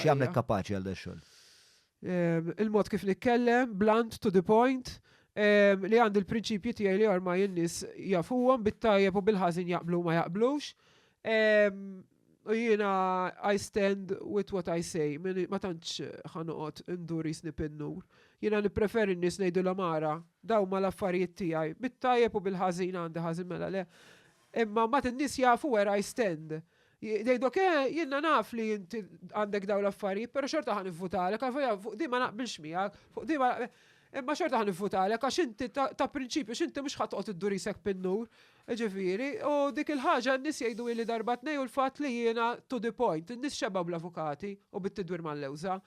X'jagħmlek kapaċi għal dax-xogħol? Il-mod kif nitkellem, blunt, to the point, li għandi l-prinċipji tiegħi li ormai in-nies jafuhom bit-tajjeb u bil-ħażin jaqblu ma jaqblux. U jiena I stand with what I say, ma tantx ħanoqgħod indur jisni pinnur. Jiena nippreferi n-nies ngħidulhom ara, daw ma l-affarijiet tiegħi, bit-tajjeb u bil-ħażin għandi ħażin mela le. Imma mbagħad in-nies jafu where I stand. Jgħidok eh, jiena naf li int għandek dawn l-affarijiet, però xorta ħa nivvutalek, għalvolja fuq din ma naqbilx miegħek, fuq din ma Imma xorta ħa nivvutalek għax inti ta' prinċipju x'inti mhux ħa toqgħod iddur isek bin-nur. Ġifieri, u dik il-ħaġa n-nies jgħidu ili darba tnej u l-fatt li jiena to the point, in-nies xebgħu bl-avukati u bit-tidwir mal-lewża.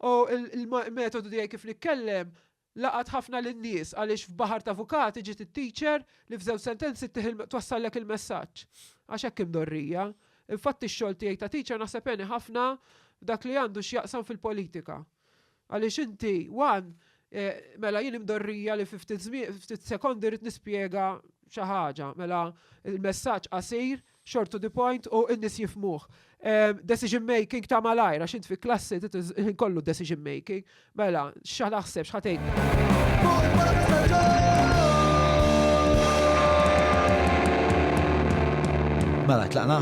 U l-metodu tiegħi kif nitkellem Laqat ħafna lin-nies għaliex f'baħar t'avukati ġiet it-teacher li f'żewġ sentenzi ttih il twassallek il-messaġġ. Għax hekk hi mdorrija. Infatti x-xogħol tiegħi ta' teacher naħseb għeni ħafna f'dak li għandu x'jaqsam fil-politika. Għaliex inti one mela jien hi mdorrija li fi ftit żmien, ftit sekondi rrid nispjega xi ħaġa. Mela l-messaġġ qasir Short to the point u n-nies jifmuh. Ehm, decision making ta' malajr, għax int fi klassi kollu decision making. Mela, xa naħseb, xħatejt. Mela, tlaqna.